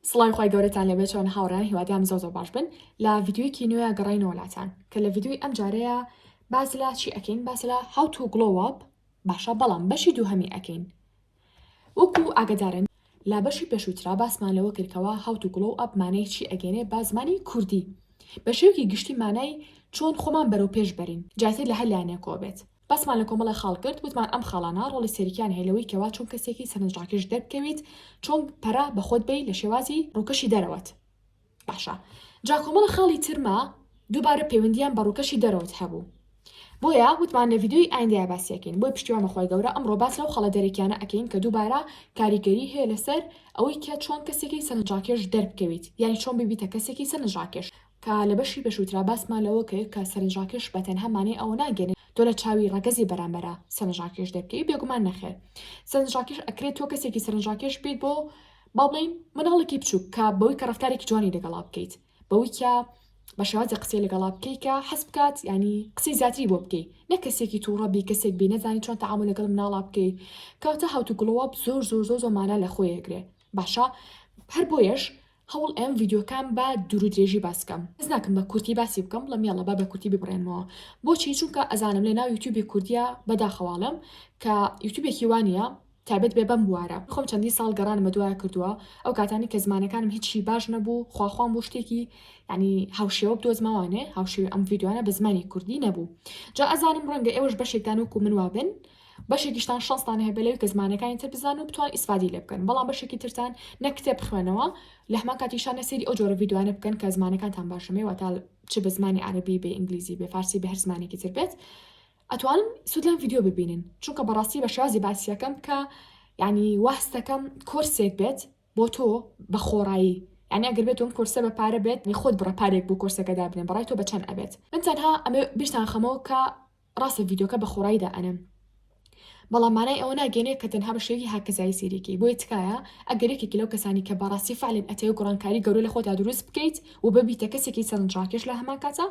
سڵاوی خوای گەورەتان لێبێ چۆنە هاوڕێیان هیوادام زۆر زۆر باش بن لە ڤیدیۆیەکی نوێ گەڕاینەوە لاتان کە لە ڤیدیۆی ئەم جارەیە باس لە چی ئەکەین باس لە how to glow up باشە بەڵام بەشی دووهەمی ئەکەین وەکو ئاگدارن لا بەشی پێشووترا باسمان لەوە کردکەوە how to glow up مانای چی ئەگەێنێ با زمانی کوردی بە شێوکی گشتی مانای چۆن خۆمان بەرەو پێش بەرین جاتر لە هەر لایەنێکەوە بێت باسمان لە کۆمەڵێ خاڵ کرد وتمان ئەم خاڵانە ڕۆڵی سەرکیان هەیە لەوەی کەوا چۆن کەسێکی سەرنجڕاکێش دەربکەویت چۆن پەرە بە خۆت بەی لە شێوازی ڕووکەشی دەرەوەت باشە جا کۆمەڵە خاڵی ترما دووبارە پەیوەندیان بە ڕووکەشی دەرەوەت هەبوو بۆیە وتمان لە ڤیددیوی ئایندەیە باسیەکەین بۆی پشتیوان بەخوای گەورە ئەمڕۆ باس لەو خەڵە دەرەکیانە ئەکەین کە دووبارە کاریگەری هەیە لەسەر ئەوەی کە چۆن کەسێکی سەرنجڕاکێش دەربکەویت یانی چۆن ببیتە کەسێکی سەرنجڕاکێش کە لە بەشی پێشووترا باسمان لەوە کرد کە سەرنجڕاکێش بە تەنها مانای ئەوە ناگەیەنێت تۆ لە چاوی ڕەگەزی بەرامبەرا سەرنجڕاکێش دەکەی، بێگومان نەخێر سەرنجڕاکێش ئەکرێت تۆ کەسێکی سەرنجڕاکێش بیت بۆ با بڵێین منداڵێکی بچووک کە بەوەی کە ڕەفتارێکی جوانی لەگەڵا بکەیت بەوەی کە بە شێوازی قسەی لەگەڵا بکەی کە حەز بکات ینی قسەی زیاتری بۆ بکەی نە کەسێکی تووڕەبی کەسێک بی نەزانی چۆن تەعامل لەگەڵ مناڵا بکەی کەواتە هاوتوگڵۆپ زۆر زۆر زۆر زۆر مانا لە خۆی ئەگرێ باشە هەر بۆیەش هەوڵ ئەیەم ڤیدیۆکان بە دوورودرێژی باس بکەم حەز ناکەم بە کورتی باسی بکەم بڵێم یاڵا با بە کورتی ببڕێنمەوە بۆچی چونکە ئەزانم لە ناو یوتیوبی کوردیە بەداخەواڵم کە یوتیوبێکی وا نییە تایبەت بێ بەم بوارە خۆم چەندین ساڵ گەڕانم بە دوایە کردووە ئەو کاتانی کە زمانەکانم هیچی باش نەبوو خواخوام بۆ شتێکی ینی هاوشێوە بدۆزمەوانێ هاوشێوی ئەم ڤیددیوانە بە زمانی کوردی نەبوو جا ئەزانم ڕەنگە ئێوەش بەشێکدان وەکو من وابن بەشێکیشتان شەنستان هەیە بەلەوی کە زمانەکانی تر بزانن و بتوان ئیسفادەی لێ بکەن بەڵام بەشێکی ترتان نە کتێب بخوێنەوە لە هەمان کاتیشان نە سەیری ئەو جۆرە ڤیدیۆانە بکەن کە زمانەکانتان باش نەبێ واتا چ بە زمانی عەرەبی بێ ئینگلیزی بێ فارسی بە هەر زمانێکی تر بێت ئەتوان سود لەم ڤیدیۆ ببینن چونکە بەڕاستی بە شازی باسیەکەم کە یعنی واستەکەم کۆرسێک بێت بۆ تۆ بە خۆڕایی یعنی ئەگەر بێت تۆم کۆرسە بە پارە بێت خۆت بڕە پارێک بۆ کۆرسەکە دابنێ بەڕای تۆ بە چەند ئەبێت من تەنها ئەمێ بیرتان خەمەوە کە ڕاستە ڤیدۆکە بە خۆڕایی دا ئەنەم بەڵام مانای ئەوە ناگەێنێ کە تەنها بە شێوی هاکەزایی سیریکی بۆیە تکایە ئەگەر یەکێکی لەو کەسانی کە بەڕاستی فعلن ئەتەوێ گوڕانکاری گەورە لە خۆتا دروست بکەیت و ببیتە کەسێکی سەرنجڕاکێش لە هەمان کاتا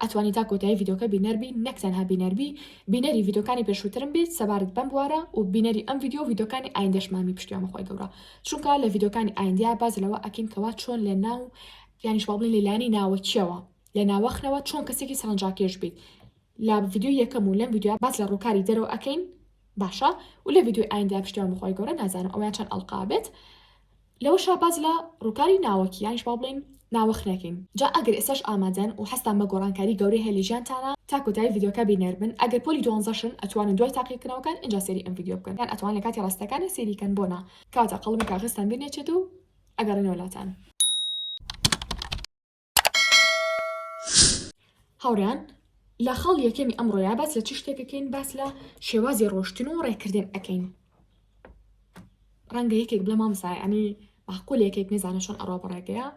ئەتوانی تا کۆتایی ڤیدۆکە بینەربی نەک تەنها بینەربی بینەری ڤیدۆکانی پێشووترم بیت سەبارەت بەم بوارە و بینەری ئەم ڤیددیو ڤیدۆکانی ئایندەشمامی پشتیوان خۆی گەورە چونکە لە ڤیدۆکانی ئایندیا باز لەوە ئەکەین کەوا چۆن لە ناو یانیش باڵین لەلانی ناوەکیەوە لە ناوەخنەوە چۆن کەسێکی سەرنجاکێش بیت لە ڤیدیۆی یەکەم و لەم ڤیدیۆیە باس لە ڕووکاری دەرەوە ئەکەین باشە و لە ڤیدیۆی ئایندا پشتیوان بەخوای گەورە نازانم ئەویان چەند ئەڵقا بێت لەوەشا باس لە ڕووکاری ناوەکی یانیش با بڵێین ناوەخنەکەین جا ئەگەر ئێسەش ئامادەن و هەستان بە گۆڕانکاری گەورەی هەیە لە ژیانتانا تا کۆتایی ڤیدیۆکە بینەر بن ئەگەر پۆلی دوانزەشن ئەتوانن دوای تاقیکردنەوەکان ئینجا سەیری ئەم ڤیدیۆ بکەن یان ئەتوان لە کاتی ڕاستەکانێ سەیری کەن بۆ نا کەواتە قەڵەمی کاغەزتان بیر نەچێت و ئەگەڕێنەوە لاتان. هاوڕێیان لە خاڵ یەکەمی ئەمڕۆیا باس لە چ شتێکەکەین باس لە شێوازی ڕۆشتن و ڕێکردن ئەەکەین ڕەنگە یەکێک بڵێ مامسای ئەنی باقول یەکێک نزانە چۆن ئەڕۆ بەڕێگەیە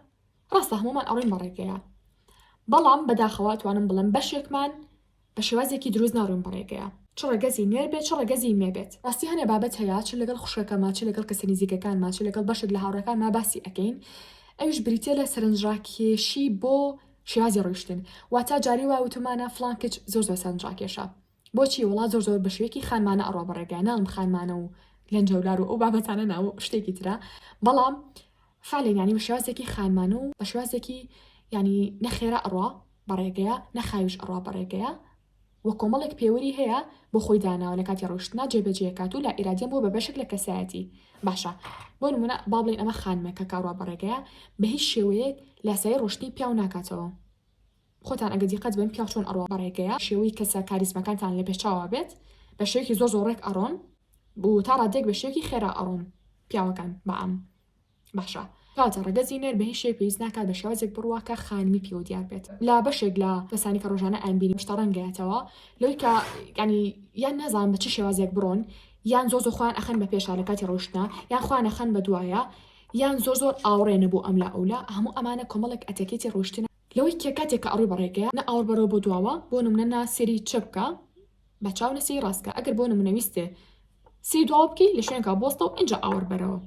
ڕاستە هەمومان ئەڕۆین بەڕێگەیە بەڵام بەداخەوە توانم بڵم بەشێکمان بە شێوازێکی دروست ناڕۆین بە ڕێگەیە چ ڕەگەزی نوێر بێت چ ڕەگەزی نوێ بێت ڕاستی هەنێ بابەت هەیە چ لەگەڵ خوشکەکەما چ لەگەڵ کەسە نیزیکەکانما چ لەگەڵ بەشێک لە هاوڕێکانما باسی ئەکەین ئەویش بریتیە لە سەرنجڕاکێشی بۆ شێوازی ڕۆیشتن واتە جارێ وا وتومانە فڵان کچ زۆر زۆر سەرنجڕاکێشە بۆچی وەڵا زۆر زۆر بە شێوەیەکی خانمانە ئەڕوا بە ڕێگەیە ناڵم خانمانە و لەنجەولار و ئەو بابەتانە نا و شتێکی ترە بەڵام فعلەن یانی بە شێوازێکی خانمانە و بە شێوازێکی یانی نەخێرا ئەڕوا بەڕێگەیە نە خاویش ئەڕوا بەڕێگەیە وە کۆمەڵێک پێوری هەیە بۆ خۆی داناوە لەکاتی ڕۆیشتنا جێ بەجێ ئەکات و لائیرادیان بووە بە بەشێک لە کەسایەتی باشە بۆ نمونە با بڵێین ئەمە خانمێکە کە ئەڕوا بەڕێگەیە بە هیچ شێوەیەک لاسایی ڕۆشتنی پیاو ناکاتەوە خۆتان ئەگەر دیقەت بەن پیاو چۆن ئەڕوا بەڕێگەیە شێوەی کەسە کاریزمەکانتان لە پێشچاوا بێت بە شێوەکی زۆر زۆر ڕێک ئەڕۆن و تا ڕاددێک بە شێوەکی خێرا ئەڕۆن پیاوەکان بە عام. باشە کاکە ڕەگەزی نێر بە هیچ شێوەیەک پێویست ناکات بە شێوازێک بڕوا کە خانمی پێوە دیار بێت لە بەشێک لە کەسانی کە ڕۆژانە ئەیان بینی پشتە ڕەنگەیەتەوە لەوەی کە ینی یان نازان بە چ شێوازێک بڕۆن یان زۆ زۆ خۆیان ئەخەن بە پێشا لە کاتی ڕۆشتنا یان خوان ئەخەن بە دوایە یان زۆر زۆر ئاوڕێنە بۆ ئەم لا ئەو لا هەموو ئەمانە کۆمەڵێک ئەتەکێتی ڕۆشتنە لەوەی کە کاتێک کە ئەڕۆی بە ڕێگەیە نە ئاوڕ بەرەوە بۆ دواوە بۆ نمونە نا سێری چەپ بکە بە چاو لەسێی ڕاست کە ئەگەر بۆ نمونە ویستێ سێی دواوە بکەی لە شوێنکە بۆستەو ئینجا ئاوەر بەرەوە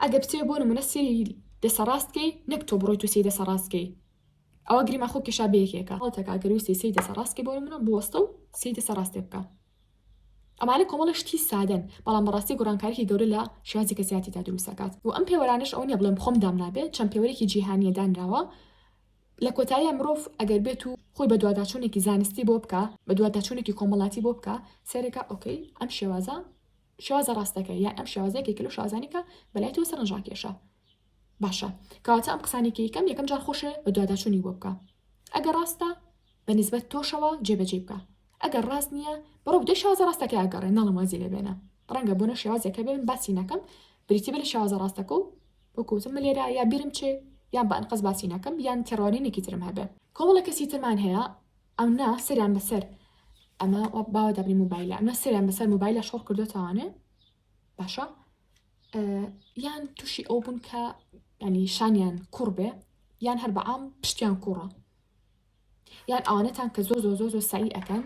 ئەگەر بتێ بۆ نمونە سێی دەسە ڕاستکەی نەک تۆ بڕۆی تو سێی دەسە ڕاستکەی ئەوە گریما خۆ کێشا بەیەکێکە هەڵتەکە ئەگەر ویستی سێی دەسە ڕاستکەی بۆ نمونە بۆستە و سێی دەسە ڕاستێ بکە ئەمانە کۆمەڵە شتی سادەن بەڵام بەڕاستی گۆڕانکارێکی گەورە لە شێوازی کەسیاتیدا دروستەکات و ئەم پێوەرانش ئەو نیە بڵێم خۆم دام نابێت چەند پێوەرێکی جیهانیە دانراوە لە کۆتاییا مرۆڤ ئەگەر بێت و خۆی بە دواداچوونێکی زانستی بۆ بکا، بە دواداچوونێکی کۆمەڵاتی بۆ بکا، سەیرەکا ئۆکەی ئەم شێوازە شێوازە ڕاستەکەیە یان ئەم شێوازە یەکێکە لەو شێوازانەی کە بە لای تۆ سەرنجڕاکێشە باشە کەواتە ئەم قسانەی کە یکەم یەکەم جار خۆشێ بە دواداچوونی بۆ بکە ئەگەر ڕاستە بە نیسبەت تۆشەوە جێبەجێی بکە ئەگەر ڕاست نییە بڕۆ بدە شێوازە ڕاستەکەی ئەگەڕێ ناڵێم وازی لێ بێنە ڕەنگە بۆنە شێوازێک هەبێ من باسی نەکەم بریتی بە لە شێوازە ڕاستەکە و وەکو وتم من لێرە یا بیرم چێ یان بە ئەنقەست باسی ناکەم یان تێڕوانینێکی ترم هەبێ. کۆمەڵە کەسی ترمان هەیە ئەمنا سەریان بەسەر ئەمە باوە دابنی موبایلە ئەمە سەریان بەسەر موبایلە شۆڕ کردوتەوانێ باشە یان تووشی ئەو بوون کە ینی شانیان کوڕ بێ یان هەر بەعام پشتیان کوڕە یان ئەوانەتان کە زۆ زۆ زۆ زۆ سەعی ئەکەن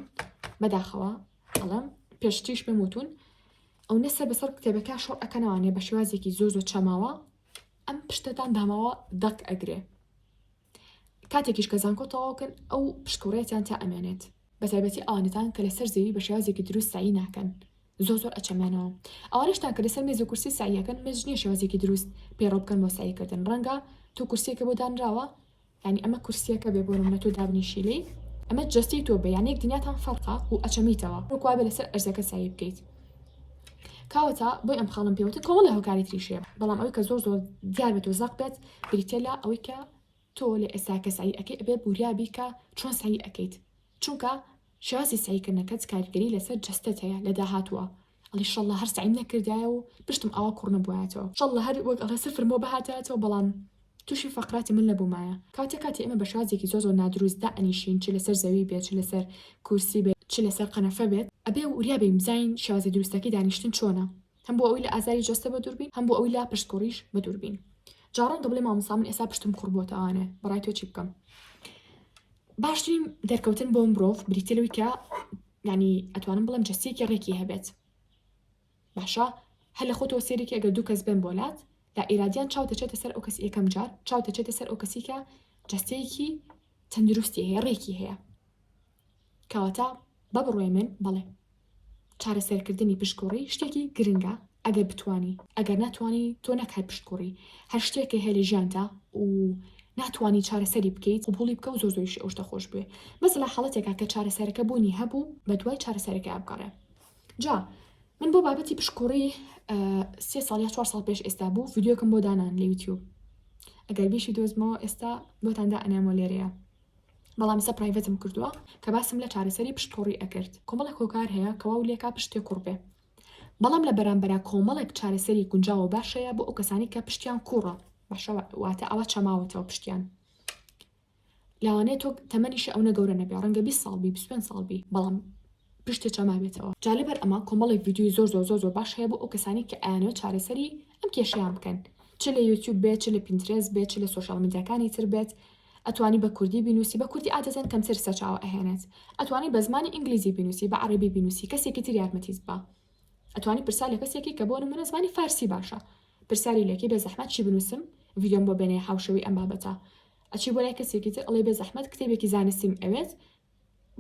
بەداخەوە ئەڵم پێشتیش پێم وتون ئەو نەسە بەسەر کتێبەکە شۆڕ ئەەکەنەوانێ بە شێوازێکی زۆ زۆ چەماوە ئەم پشتتان داماوە دەک ئەگرێ کاتێکیش کە زانکۆ تەواوکەن ئەو پشکوڕێتیان تا ئەمێنێت بە تایبەتی ئەوانتان کە لەسەر زەوی بە شێوازێکی دروست سایی ناکەن زۆر زۆر ئەچەمێنەوە ئەوانشتان کە لەسەر مێز و کورسی ساییەکەن مێزنیە شێوازێکی دروست پێڕۆ بکەن بۆ ساییکردن ڕەنگە تۆ کورسێکە بۆ دانراوە یانی ئەمە کورسیەکە بێ بۆ نمونە تۆ دابنیشی لێی ئەمە جەستەی تۆ بێ یانێک دنیاتان فەرقا و ئەچەمیتەوە وەک وابێ لەسەر ئەرزەکە سەعی بکەیت کاوەتا بۆی ئەم خاڵم پێوتە کۆڵە هۆکاری تریشێ بەڵام ئەوی کە زۆر زۆر دیار بێت و زەق بێت بریتە لە ئەوەی کە تۆ لە ئێستا کە سعی ئەەکەی ئەبێ بوریابی کە چۆن سعی ئەەکەیت چونکە شازی سەعیکردنەکەت کاریگەری لەسەر جەستەت هەیە لە داهاتووە ئەڵێی شەڵڵا هەر سەعیم نەکردایە و پشتم ئاوا کوڕ نەبوایەتەوە شەڵڵا هەر وەک ئەڵێ سفر مۆ بهاتایەتەوە بەڵام توشی فەقراتی مل نەبومایە کاتێ کاتی ئێمە بە شازێکی زۆر زۆر نادروست دائەنیشین چ لەسەر زەوی بێت چ لەسەر کورسی بێت چ لەسەر قەنەفە بێت ئەبێ وریا بین بزانین شازی دروستەکەی دانیشتن چۆنە. هەم بۆ ئەوی لە ئازاری جەستە بە دووربین هەم بۆ ئەوی لا پشتکوڕیش بە دووربین جا ڕەنگە بڵێ مامۆسا من ئێستا پشتم کوڕ بۆتەوانێ بەڕای تۆ چی بکەم باشترین دەرکەوتن بۆ مرۆڤ بریتە لەوەی کە ینی ئەتوانم بڵم جەستەیەکی ڕێکی هەبێت باشە هەل لە خۆتەوە سێرێکی ئەگەر دوو کەس بێن بۆلات لە ئێرادیان چاو دەچێتە سەر ئەو کەس یەکەم جار چاو دەچێتە سەر ئەو کەسیکە جەستەیەکی تەندروستی هەیە ڕێکی هەیە کەواتە بە بڕوای من بەڵێ چارەسەرکردنی پشتکوڕی شتێکی گرنگە ئەگەر بتوانی ئەگەر ناتوانی تۆ نەک هەر پشتکوڕی هەر شتێک کە هەیە لە ژیانتا و ناتوانی چارەسەری بکەیت قبوڵی بکە و زۆر زۆریش ئەو شتە خۆش بوێ بەس لە حاڵەتێکا کە چارەسەرەکە بوونی هەبوو بە دوای چارەسەرەکەی بگەڕێ جا من بۆ بابەتی پشکوڕی سێ ساڵ یا چوار ساڵ پێش ئێستا بوو ڤیددیوکم بۆ دانان لە یوتیوب ئەگەر بیشی دۆزمەوە ئێستا بۆتاندا ئەنامۆ لێرەیە بەڵام سە پرایڤەتم کردوە کە باسم لە چارەسەری پشت قوڕی ئەکرد کۆمەڵێک هۆکار هەیە کە واو لێکا پشتێ قوڕ بێ بەڵام لە بەرامبەرا کۆمەڵێک چارەسەری گونجاوە باشەیە بۆ ئەو کەسانی کە پشتیان کوڕە باشە واتە ئەوە چەماوەتەوە پشتیان لاوانەیە تۆ تەمەنیشی ئەو نەگەورە نەبێ ڕەنگە 20 ساڵ بی 25 ساڵ بی بەڵام پشتێ چەماوێتەوە جا لەبەر ئەمە کۆمەڵێک ڤیدیوی زۆر زۆر زۆر زۆر باش هەیە بۆ ئەو کەسانی کە ئەیانەوە چارەسەری ئەم کێشیان بکەن چ لە یوتیوب بێت چ لە پینترێز بێت چ لە سوۆشال میدیاکانی تر بێت ئەتوانی بە کوردی بینوسی بە کوردی عادەتەن کەمتر سەرچاوە ئەهێنێت ئەتوانی بە زمانی ئینگلیزی بینوسی بە عەڕەبی بینوسی کەسێکی تر یارمەتیت با ئەتوانی پرسیار لە کەسێکی کە بۆ نمونە زمانی فارسی باشە پرسیاری لێکی بێ زەحمەت چی بنوسم ڤیدۆم بۆ بێنێ هاوشێوەی ئەم بابەتە ئەچی بۆ لای کەسێکی تر ئەڵێی بێ زەحمەت کتێبێکی زانستیم ئەوێت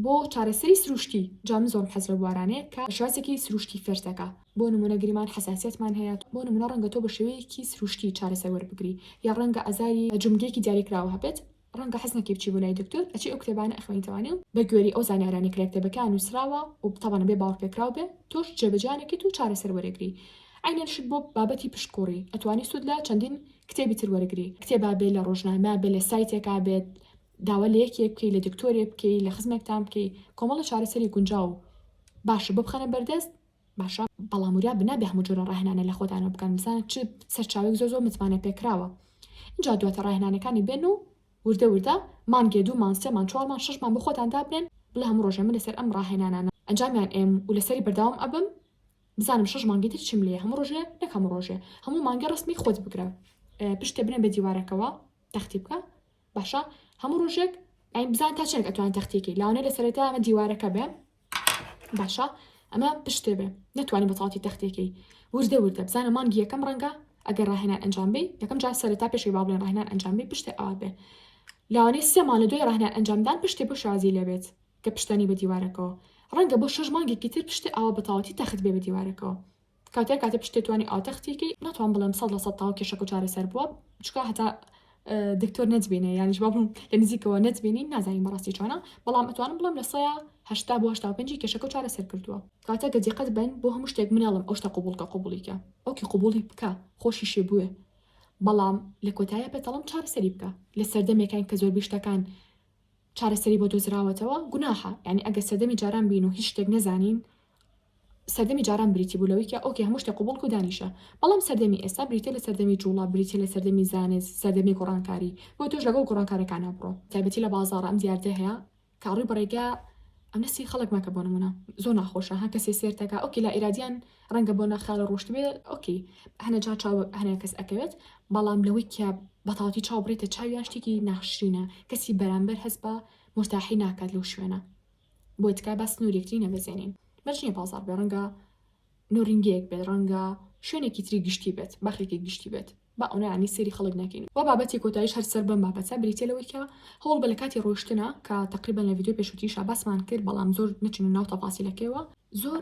بۆ چارەسەری سروشتی، جا من زۆرم حەز لەو بوارانەیە کە شێوازێکی سروشتی فێر دەکا، بۆ نموونە گریمان حەساسیەتمان هەیە، بۆ نموونە ڕەنگە تۆ بە شێوەیەکی سروشتی چارەسەر وەربگری، یا ڕەنگە ئازاری جومگەیەکی دیاریکراوە هەبێت، ڕەنگە حەز نەکەی بچی بۆ لای دکتۆر، ئەچی ئەو کتێبانە ئەخوێنیتەوانی و بە گوێری ئەو زانیارانەی کە لە کتێبەکەیا نووسراوە و تەبەنە بێ باوەڕپێکراو بێ تۆش جێبەجێیان ئەکەیت و چارەسەر وەرەگری. عەینەن شت بۆ بابەتی پشت کوڕی ئەتوانی سوود لە چەندین کتێبی تر وەرگری، کتێبا بێ لە ڕۆژنامە بێ لە سایتێکا بێت، داوا لە یەکێ بکەی لە دکتۆرێ بکەی لە خزمێکتان بکەی کۆمەڵە چارەسەری گونجاو باشە بۆ بخەنە بەردەست باشە بەڵام وریا بنابێ هەموو جۆرە ڕاهێنانە لە خۆتانەوە بکەن بزانە چ سەرچاوێک زۆر زۆر متمانە پێکراوە اینجا دواتە ڕاهێنانەکانی بێن و وردە وردە مانگێ دوومان سێمان چوارمان شەشمان بە خۆتان دابنێن بڵێ هەموو ڕۆژێ من لەسەر ئەم ڕاهێنانانە ئەنجامیان ئێم و لەسەری بەردەوام ئەبم بزانم شەش مانگی تر چیم لێ هەموو ڕۆژێ نەک هەموو ڕۆژێ هەموو مانگێ ڕسمی خۆت بگرە پشتێ بنێ بە دیوارەکەوە تەختی بکە باشە هەموو ڕۆژێک ئەین بزان تا چنێک ئەتوان تەختێکی لاوانێ لە سەرەتا ئەمە دیوارەکە بێ باشە ئەمە پشتێ بێ نتوانانی بەتەواتی تەختێکی وردە وردە بزانە مانگی یەکەم ڕەنگە ئەگەر ڕاهێنان ئەنجام بی یەکەم جار سەرەتا پێشی با بڵێن ڕاهێنان ئەنجام بی پشتێ ئاوا بێ لاوانێ سێ مانە دوای ڕاهێنان ئەنجامدان پشتێ بۆ شازی لەبێت کە پشتانی بە دیوارەکەەوە ڕەنگە بۆ شەش مانگێکی تر پشتێ ئاوا بەتەواتی تەخت بێ بە دیوارەکەەوە کاتێ کاتێ پشتێ توانی ئاو تەختی کەی ناتوان بڵێم سەد لە سەد تاو کێشەکە و چارەسەر بووە چکا هەتا دکتۆر نەتبینێ یانیش بابم لە نزیکەوە نەتبینی نازانین بەڕاستی چۆنە بەڵام ئەتوانم بڵێم لە سەیە هەشتا بۆ هەشتا پێنجی کێشەکە و چارەسەر کردووە کاتە گە دیقەت بن بۆ هەموو شتێک مناڵم ئەو شتە قوبولکە قوبولیکە ئۆکی قوبولی بکە خۆشی شێ بوێ بەڵام لە کۆتایە پێتەڵم چارەسەری بکە لە سەردەمێکان کە زۆربی شتەکان چارەسەری بۆ دۆزراوەتەوە گوناحە یانی ئەگەر سەردەمی جاران بین و هیچ شتێک نەزانین سەردەمی جاران بریتی بوو لەوەی کە ئۆکێ هەموو شتێک قبوڵ کە و دانیشە بەڵام سەردەمی ئێستا بریتیە لە سەردەمی جووڵە بریتیە لە سەردەمی زانست سەردەمی گۆڕانکاری بۆیە تۆش لەگەڵ گۆڕانکارەکانا بڕۆ تایبەتی لە بازاڕ ئەم دیاردە هەیە کە ڕووی بە ڕێگا ئەم نەسی خەڵک مەکە بۆ نموونە زۆر ناخۆشە ها کەسێ سێرتەکا ئۆکێ لائیرادیان ڕەنگە بۆ ناخیاڵی ڕۆشتبێ ئۆکەی هەنێ جار چاو هەنێ کەس ئەکەوێت بەڵام لەوەی کە بەتاڵتی چاو بڕیتە چاویان شتێکی ناشرینە کەسی بەرامبەر هەست بە مورتاحی ناکات لەو شوێنە بۆیە تکایە با سنوور یەکتری نەبەزێنین مەرج نییە بازاڕ بێ ڕەنگە نۆرینگەیەک بێت ڕەنگە شوێنێکی تری گشتی بێت باخێکی گشتی بێت با ئەونا ینی سەیری خەڵک نەکەین و بابەتی کۆتایش هەر سەر بەم بابەتە بریتیە لەوەی کە هەوڵ بە لە کاتی ڕۆشتنە کە تەقریبان لە ڤیدیۆی پێشووتیشا باسمان کرد بەڵام زۆر نەچوونە ناو تەفاسیلەکەیەوە زۆر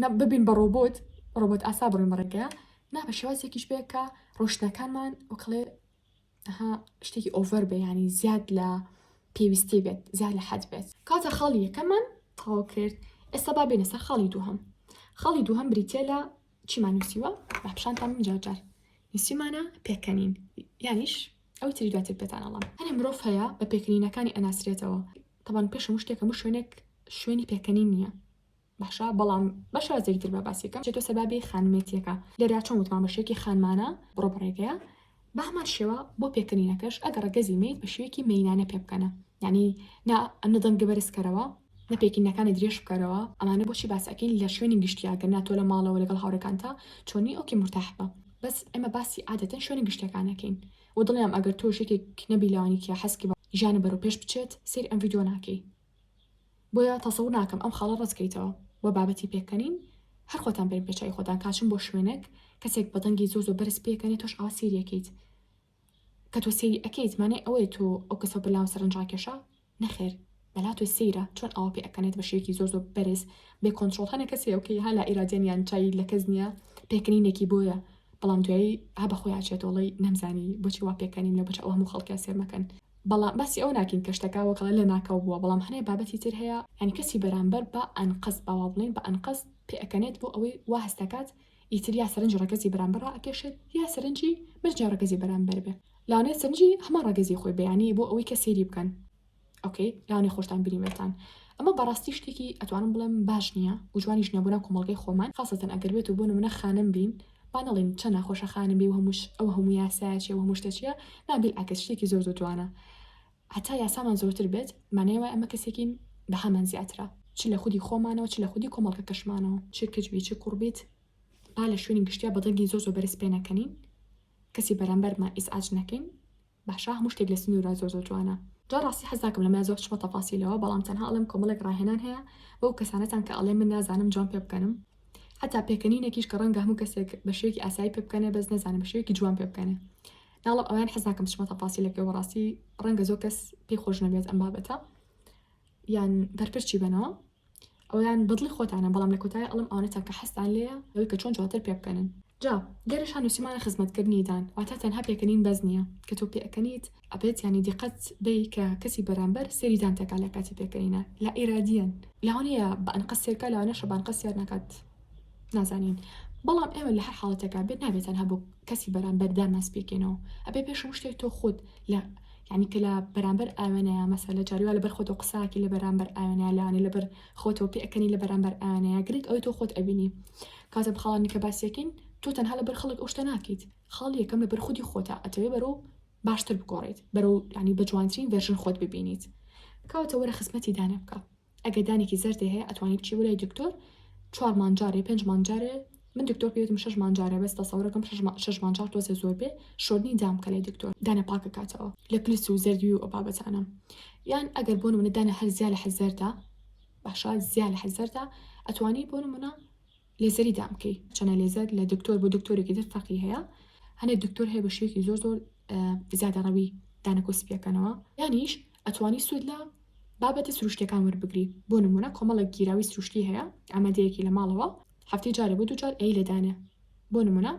نە ببین بە ڕۆبۆت ڕۆبۆت ئاسا بڕوین بە ڕێگەیە نا بە شێوازێکیش بێ کە ڕۆشتەکانمان وکڵێ ها شتێکی ئۆڤەر بێ ینی زیاد لە پێویستی بێت زیاد لە حەد بێت کاتە خاڵی یەکەمان تەواو کرد ئێستا با بێنە سەر خاڵی دووهم خاڵی دووهم بریتە لە چیمان نووسیوە بە پیشانتان من جارجار نووسیمانە پێکەنین یانیش ئەو تری دواتر پێتانەڵام هەنێ مرۆڤ هەیە بە پێکرینەکانی ئەناسرێتەوە تەبان پێشم شتێکە مش شوێنێک شوێنی پێکەنی نییە باشە بەڵام بە شازێکی تر با باسیەکەم چێتۆ سەربابی خانمێتیەکە لێرا چۆن وتمان بە شێکی خانمانە بڕۆ بەڕێگەیە بە هەمان شێوە بۆ پێکردنینەکەش ئەگەڕ گەزی میت بە شوێکی مینانە پێ بکەنە ینی نا ئەنە دەنگە بەرزکەرەوە نە پێکینەکانی درێژ بکەرەوە ئەمانە بۆچی باسەکەین لە شوێنی گشتیاگە ناتۆ لە ماڵەوە لەگەڵ هاورەکانتا چۆنی ئۆکی مرتاح بە بەس ئێمە باسی عادەتەن شوێنە گشتەکانەکەین و دڵیان ئەگەر تۆ شێکێک نەبی لەوانی کە حەسکی بە ژیانە بەرەو پێش بچێت سیر ئەم ڤیدۆ ناکەی بۆیە تەسەور ناکەم ئەم خاڵە ڕەت کەیتەوە وە بابەتی پێکەنین هەر خۆتان بەرن پێچەوی خۆتان کاچن بۆ شوێنەک کەسێک بە دەنگی زۆر زۆر بەرز پێکەنێ تۆش ئاوا سێری ئەکەیت کە تۆ سێری ئەکەیت مانای ئەوەیە تۆ ئەو کەسە بەر لاوە سەرنج ڕاکێشە نەخێر بەلا تۆ سەیرە چۆن ئاوا پێ ئەکەنێت بە شێوەیەکی زۆر زۆر بەرز بێ کۆنترۆڵ هەنە کەس هەیە کە ها لا ئیرادیان یان چای لە کەس نییە پێکەنینێکی بۆیە بەڵام دوایی ها بە خۆیان چێتەوەڵی نەمزانی بۆچی وا پێکەنیم لە بەچ ئەو هەموو خەڵکیان سێر مەکەن بەڵام باسی ئەوە ناکەین کە شتەکە وەک ئەڵێن لەناکاو بووە بەڵام هەنێ بابەتی تر هەیە یانی کەسی بەرامبەر بە ئەنقەست با وا بڵێین بە ئەنقەست پێ ئەکەنێت بۆ ئەوەی وا هەست ئەکات ئیتر یا سەرنج ڕەگەزی بەرامبەر ڕائەکێشێت یا سەرنجی مەرجە ڕەگەزی بەرامبەر بێ لەوانەیە سەرنجی هەمان ڕەگەزی خۆی بێ یانی بۆ ئەوەی کە سەیری بکەن ئۆکەی لەوانەیە خۆشتان بینیبێتان ئەمە بەڕاستی شتێکی ئەتوانم بڵێم باش نییە و جوانیش نییە بۆ ناو کۆمەڵگەی خۆمان خاصەتەن ئەگەر بێت و بۆ نمونە خانم بین با نەڵێین چەن ناخۆشە خانم بی و هەمووش ئەو هەموو یاسایە چیە و هەموو شتە چیە نا بیلعەکس شتێکی زۆر زۆر جوانە هەتا یاسامان زۆرتر بێت مانای وای ئەمە کەسێکین بەهامان زیاترە چ لە خودی خۆمانەوە چ لە خودی کۆمەڵگەکەشمانەوە چ کچ بی چ کوڕ بیت با لە شوێنی گشتیا بە دەنگی زۆر زۆر بەرز پێ نەکەنین کەسی بەرامبەرمان ئیزعاج نەکەین باشە هەموو شتێک لە سنورە زۆر زۆر جوانە. جا ڕاستی حەز ناکەم لەمە زۆر بچمە تەفاسیلەوە بەڵام تەنها ئەڵێم کۆمەڵێک ڕاهێنان هەیە بەو کەسانەتان کە ئەڵێن من نازانم جوان پێ بکەنم حەتا پێکەنینێکیش کە ڕەنگە هەموو کەسێک بە شێوەیەکی ئاسایی پێ بکەنێ بەس نەزانێ بە شێوەیەکی جوان پێ بکەنێ ناڵم ئەویان حەز ناکەم بچمە تەفاسیلەکەی وەڕاستی ڕەنگە زۆر کەس پێی خۆش نەبێت ئەم بابەتە یان بەرپرچی بنەوە ئەوەیان بەدڵی خۆتانە بەڵام لە کۆتایی ئەڵێم ئەوانە چەنکە حەزتان لێیە ئەوەی کە چۆن جوانتر پێ بکەنن جا گەرش هە نوسیمانە خزمەت کردنی دان واتا تەنها پێکەنین بەس نیە کە تۆ پێ ئەکەنیت ئەبێت یانی دیقەت بەی کە کەسی بەرامبەر سێری دانتەکا لە کاتی پێکەنینە لا ئیرادیەن لەوانەیە بە ئەنقەست سێرکا لەوانەشە بە ئەنقەست سێر نەکات. نازانین بەڵام ئێمە لە هەر حاڵەتێکا بێت نابێت تەنها بۆ کەسی بەرامبەردا ماس پێکەینەوە ئەبێ پێش شتێک تۆ خۆت لە یعنی کە لە بەرامبەر ئاوێنەیە مەسە لە جاریوا لەبەر خۆتۆ قساکی لە بەرامبەر ئاوێنە لاانێ لەبەر خۆتۆ پێەکەنی لە بەرامبەر ئاوێنەیە گرنگ ئەوی تۆ خۆت ئەبینی کاتە بخاڵانی کە باسیەکەین تۆ تەنها لەبەر خەڵک ئەو شتە ناکەیت خاڵ یەکەم لەبەر خودی خۆتە ئەتەوێ بەرۆ باشتر بگۆڕیت بەرەو ینی بە جوانترین ڤێرژن خۆت ببینیت کەواتە وەرە خزمەتی دانێ بکە ئەگەر دانێکی زەردێ هەیە ئەتوانی بچی بۆ لای دکتۆر چوار مانگ جارێ پێنج مانگ جارێ من دکتۆر پێوتم شەش مانگ جارێ بەس تەسەورەکەم شەش مانگ شەش مانگ جار تۆزێ زۆر بێ شۆردنی دام بکە لای دکتۆر دانە پاک بکاتەوە لە پلس و زەردوی و ئەو بابەتانە یان ئەگەر بۆ نمونە دانە هەر زیا لە حەزەردا باشە زیا لە حەزەردا ئەتوانی بۆ نمونە لێزەری دام بکەی چەنە لێزەر لە دکتۆر بۆ دکتۆرێکی تر فەقی هەیە هەنێ دکتۆر هەیە بە شوێکی زۆر زۆر زیادە ڕەوی دانە کۆسپیەکەنەوە یانیش ئەتوانی سوود لە بابەتە سروشتیەکان وەربگری بۆ نمونە کۆمەڵێک گیراوی سروشتی هەیە ئامادەیەکی لە ماڵەوە هەفتەی جارێ بۆ دوجار ئەی لەدانێ بۆ نمونە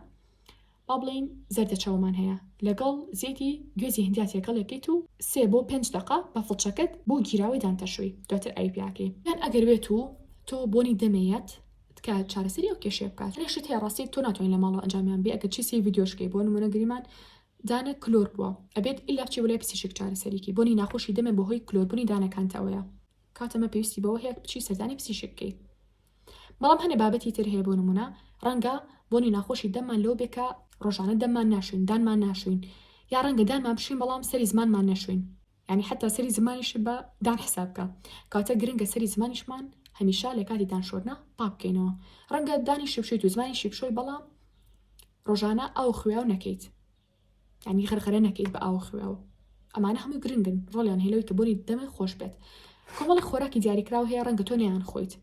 با بڵین زەردە چاومان هەیە لەگەڵ زیتی گوێزی هندیا تێکەڵێکیت و سێ بۆ پێنج دقا بە فڵچەکەت بۆ گیراوی دانتەشوی دواتر ئای پیاکەی یان ئەگەر بێت و تۆ بۆنی دەمێت تکە چارەسەری ئەو کێشێ بکات لەشت هەیە ڕاستی تۆ ناتوانین لە ماڵەوە ئەنجامیان بێ ئەگەر چی سی ڤیددیۆشکەی بۆ نمونە گریمان دانە کلۆر بوە ئەبێت ئیلا بچی بۆ لای پسیشک چارەسەریکی بۆنی ناخۆشی دەمێ بەهۆی کلۆر بونی دانەکانت ئەوەیە کاتە مە پێویستی بەوە هەیە بچی سەردانی پسیشک کەی بەڵام هەنێ بابەتی تر هەیە بۆ نمونە ڕەنگە بۆنی ناخۆشی دەممان لەو بێ کە ڕۆژانە دەممان ناشوین دانمان ناشوین یا ڕەنگە دانمان بشوین بەڵام سەری زمانمان نەشوین یانی حەتا سەری زمانیشت بە دان حساب کە کاتە گرنگە سەری زمانیشمان هەمیشە لەکاتی دان شۆرنا پاک بکەینەوە ڕەنگە دانیشی بشۆیت و زمانیشی بشۆی بەڵام ڕۆژانە ئاو خوێاو نەکەیت یانی غرغرە نەکەیت بە ئاو خوێاو ئەمانە هەمووی گرنگن ڕۆلیان هێلەوەی کە بۆنی دەمێ خۆش بێت کۆمەڵی خۆراکی دیاریکراوە هەیە ڕەنگە تۆ نیان خۆیت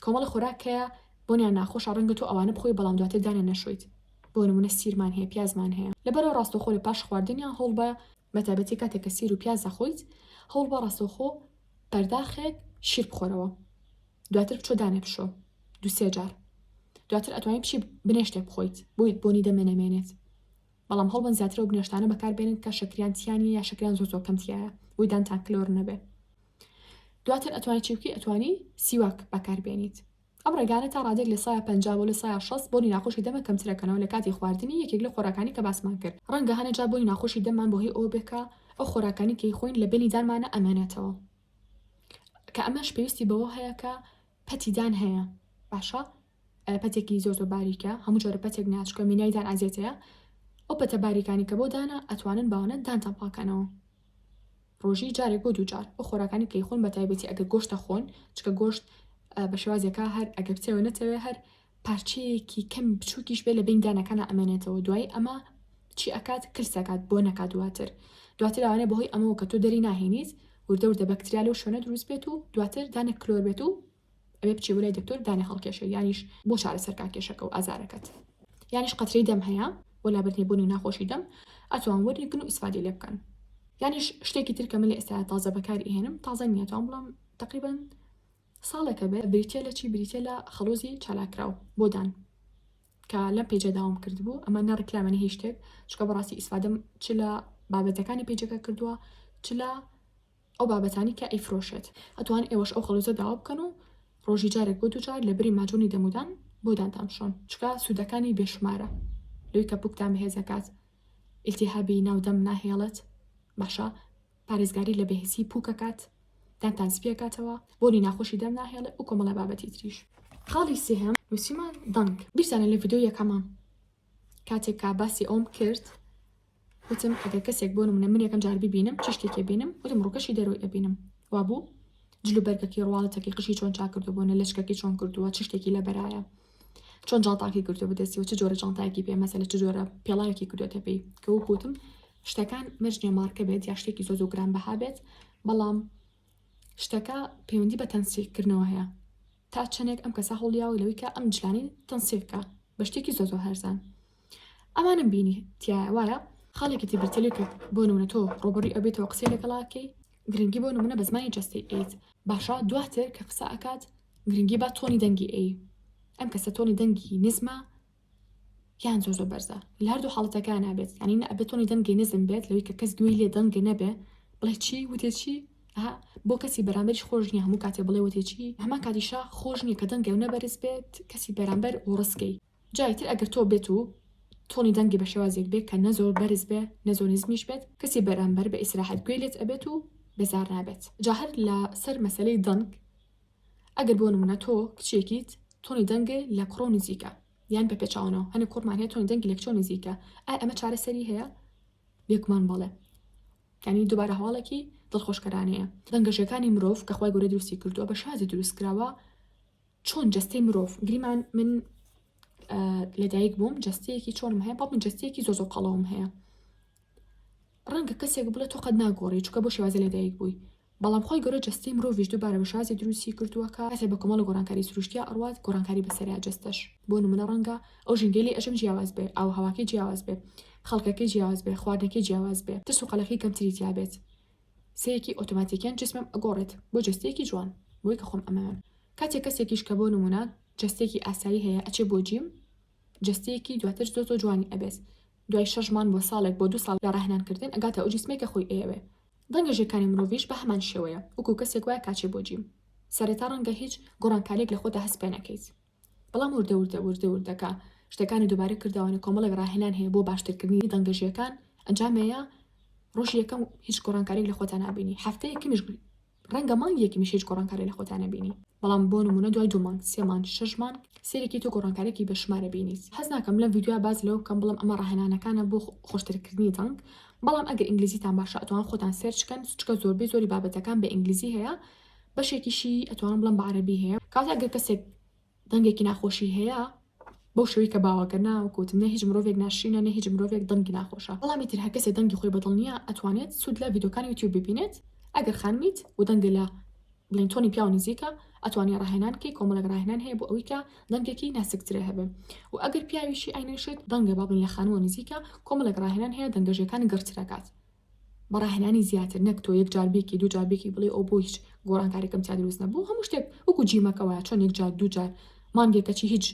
کۆمەڵە خۆراک هەیە بۆنیان ناخۆشە ڕەنگە تۆ ئەوانە بخۆی بەڵام دواتر دانیان نەشۆیت بۆ نمونە سیرمان هەیە پیازمان هەیە لەبەرەوە ڕاستەوخۆ لە پاش خواردنیان هەوڵ بە بەتابەتی کاتێک کە سیر و پیاز دەخۆیت هەوڵ بە ڕاستەوخۆ پەرداخێک شیر بخۆرەوە دواتر بچۆ دانێ بشۆ دوسێ جار دواتر ئەتوانین بچی بنێشتێک بخۆیت بۆیت بۆنی دەمێنەمێنێت بەڵام هەوڵبەن زیاتر ئەو بنەشتانە بەکار بێنن کە شەکریان تیا نیە یا شەکریان زۆر زۆر کەم تیایە بۆی دانتان کلۆر نەبێ دواتر ئەتوانی چی بکەی ئەتوانی سیواک بەکار بێنیت ئەم ڕێگانە تا ڕادێک لە سایە پنج بۆ لە سایە شەست بۆنی ناخۆشی دەمە کەمترەکەنەوە لە کاتی خواردنی یەکێک لە خۆراکانی کە باسمان کرد ڕەنگە هەنە جا بۆنی ناخۆشی دەممان بۆ هی ئەوە بێ کە ئەو خۆراکانی کەی خۆین لە بینی دانمانە ئەمێنێتەوە کە ئەمەش پێویستی بەوە هەیە کە پەتیدان هەیە باشە پەتێکی زۆر زۆر باریکە هەموو جۆرە پەتێک نا چونکە مینای دان ئازێت هەیە ئەو پەتە باریکانی کە بۆ دانا ئەتوانن باوانە دانتان پاکەنەوە ڕۆژی جارێک بۆ دوو جار بۆ خۆراکانی کەی خۆن بە تایبەتی ئەگە گۆشتە خۆن چکە گۆشت بە شێوازێکا هەر ئەگە بتەوە نەتەوێ هەر پارچەیەکی کەم بچووکیش بێ لە بین دانەکانە ئەمێنێتەوە دوای ئەمە چی ئەکات کلسەکات بۆ نەکات دواتر دواتر ئەوانە بەهۆی ئەمەوە کە تۆ دەری ناهێنیت وردە وردە بەکتریا لەو شوێنە دروست بێت و دواتر دانە کلۆر بێت و ئەبێ بچێ بۆ لای دکتۆر دانێ هەڵکێشێ یانیش بۆ چارەسەر کا کێشەکە و ئازارەکەت یانیش قەترەی دەم هەیە بۆ لابردنی بۆنی و ناخۆشی دەم ئەتوان وەری گن و ئیسفادەی لێ بکەن یانیش شتێکی تر کە من لە ئێستا تازە بەکاری ئێنم تازە نییە تاوان بڵام تقریبا ساڵێکە بێ بریتە لە چی بریتە لە خەڵۆزی چالاکراو بۆدان کە لەم پێجە داوام کرد بوو ئەمە نەڕکلامەنی هیچ شتێک چکە بەڕاستی ئیسفادەم چ لە بابەتەکانی پێجەکە کردووە چ لە ئەو بابەتانی کە ئەیفرۆشێت ئەتوان ئێوەش ئەو خەڵوتە داوا بکەن و ڕۆژی جارێک بۆ دووجار لە بری ماجونی دەمودان بۆ دانتان بشۆن چکە سودەکانی بێ شمارە لەوی کە پوکتان بەهێز ئەکات ئیلتیهابی ناو دەم ناهێڵێت باشە پارێزگاری لە بێهسی پوک ئەکات دانتان سپی ئەکاتەوە بۆنی ناخۆشی دەم ناهێڵێ و کۆمەڵە بابەتی تریش خاڵی سێهەم نووسیمان دەنگ بیرتانە لە ڤیدیۆ یەکەمە کاتێک کا باسی ئەوم کرد وتم ئەگەر کەسێک بۆ نمونە من یەکەم جار بیبینم چ شتێکی ئەبینم وتم ڕووکەشی دەرەوەی ئەبینم وابوو جل و بەرگەکەی ڕواڵەتەکەی قژی چۆن چاک کردو بۆ نە لەشکەکەی چۆن کردووە چ شتێکی لە بەرایە چۆن جاڵتاکی کردو بەدەستیەوە چ جۆرە جانتایەکی پێ مەسەلە چ جۆرە پێڵاوێکی کردوێتە پێی کە وکوتم شتەکان مەرجنیە مارکە بێت یا شتێکی زۆ زۆ گران بەها بێت بەڵام شتەکە پەیوەندی بە تەنسیکردنەوە هەیە تا چەندێک ئەم کەسە هەوڵیاوە لەویکە ئەم جلانی تەنسیکە بە شتێکی زۆ زۆ هەرزان ئەمانەم بینی تیایە وایە؟ خاڵێکی تر بیرتێلی کرد بۆ نمونە تۆ ڕوبەڕوی ئەو بیتەوە قسەی لەگەڵ ئاکەی گرنگی بۆ نمونە بە زمانی جەستەی ئەیت باشە دواتر کە قسە ئەکات گرنگی با تۆنی دەنگی ئەی ئەم کەسە تۆنی دەنگی نزمە یان زۆر زۆر بەرزە لە هەردوو حاڵەتەکان نابێت ینی نە ئەبێت تۆنی دەنگی نزم بێت لەوەی کە کەس گوێی لێ دەنگێ نەبێ بڵێ چی وتێ چی ئەها بۆ کەسی بەرامبەریش خۆش نیە هەموو کاتێ بڵێ وتێ چی هەما کاتیشا خۆش نیە کە دەنگێ و نەبەرز بێت کەسی بەرامبەر و ڕسکەی جاری تر ئەگەر تۆ بێت و تۆنی دەنگی بە شێوازێک بێ کە نە زۆر بەرز بێ نە زۆر نزمیش بێت کەسی بەرامبەر بە ئیسراحەت گوێی لێت ئەبێت و بێزار نابێت جا هەر لە سەر مەسەلەی دەنگ ئەگەر بۆ نمونە تۆ کچێکیت تۆنی دەنگ لە کوڕۆ نزیکە یان بە پێچاوەوە هەنێ کوڕمان هەیە تۆنی دەنگی لە کچۆ نزیکە ئای ئەمە چارەسەری هەیە بێگومان بەڵێ کانی دووبارە هەواڵێکی دڵخۆشکەرانەیە دەنگەشەکانی مرۆڤ کە خخوای گەورە دروستی کردووە بە شازی دروستکراوە چۆن جەستەی مرۆڤ گریمان من لەدایک بووم جەستەیەکی چۆنم هەیە بەڵ من جەستەیەکی زۆزۆ قەڵەوم هەیە ڕەنگە کەسێک بڵێت تۆ قەت ناگۆڕی چکە بۆ شێوازە لەدایک بووی بەڵام خۆی گەورە جستی مرۆڤش دووبارە بە شازی دروستی کردووە کە هەسێ بە کۆمەڵە گۆرانکاری سروشتیا ئەڕات گۆرانکاری بەسەریا جستەش بۆ نمونە ڕەنگە ئەو ژنگەلی ئەژم جیاواز بێ ئەو هەواکەی جیاواز بێ خەڵکەکەی جیاواز بێ خواردنەکەی جیاواز بێ ترس و قەلەخی کەمتری تیاابێت سەیەکی ئۆتۆماتیکیان جسمم ئەگۆڕێت بۆ جەستەیەکی جوان بۆی کە خۆم ئەمەوێم کاتێک کەسێکیش کە بۆ نمونە جەستەیەکی ئاسایی هەیە ئەچێ بۆ جیم جەستەیەکی دواتر زۆر زۆر جوانی ئەبێت دوای شەش مان بۆ ساڵێک بۆ دوو ساڵ لە ڕاهێنان کردن ئەگاتە ئەو جسمەی کە خۆی ئەیەوێ ڕەنگە ژێکانی مرۆڤیش بە هەمان شێوەیە وەکو کەسێک وایە کاچێ بۆ جیم سەرەتا ڕەنگە هیچ گۆڕانکاریەک لە خۆتا هەست پێ نەکەیت بەڵام وردە وردە وردە وردە کە شتەکانی دووبارە کردەوەنە کۆمەڵێک ڕاهێنان هەیە بۆ باشترکردنی دەنگەژیەکان ئەنجامەیە ڕۆژی یەکەم هیچ گۆڕانکاریک لە خۆتان نابینی هەفتەیەکیش ڕەنگە مانگێکی میشیج گۆڕانکاری لە خۆتانە بینی بەڵام بۆ نمونە دوای دوو مانگ سێ مانگ شەش مانگ سێرێکی تۆ گۆڕانکارێکی بە شمارە بینیت حەز ناکەم لەم ڤیدیویا باز لەوە بکەم بڵم ئەمە ڕاهێنانەکانە بۆ خۆشترکردنی دەنگ بەڵام ئەگەر ئینگلیزیتان باشە ئەتوان خۆتان سێرچکەن چکە زۆربەی زۆری بابەتەکان بە ئینگلیزی هەیە بەشێکیشی ئەتوانم بڵێم بە عەرەبی هەیە کاتێ ئەگەر کەسێک دەنگێکی ناخۆشی هەیە بەو شوی کە باوەگەر ناوکوت نە هیچ مرۆڤێک ناشرینە نە هیچ مرۆڤێک دەنگی ناخۆشە بەڵامی تر هەر کەسێ دەنگی خۆی بەدڵ نییە ئەتوانێت سوود لە ڤیدۆکانی یوتیوب ببینێت ئەگەر خانمیت و دەنگە لە بڵین تۆنی پیاو نزیکە ئەتوانانی ڕاهێنان کەی کۆمەڵێک ڕاهێنان هەیە بۆ ئەوی کە دەنگێکی ناسکترە هەبێ و ئەگەر پیاویشی ئاینێشێت دەنگە بابن لە خانووە نزیکە کۆمەڵێک ڕاهێنان هەیە دەنگەژەکانی گەڕترەکات بە ڕاهێنانی زیاتر نەک تۆ یەک جار بیکی دوو جار بیکی بڵێی ئۆ بۆ هیچ گۆڕانکاریکم تیا دروست نەبوو هەموو شتێک وەکو جیمەکە وایە چۆن یەک جار دوو جار مانگێکە چی هیچ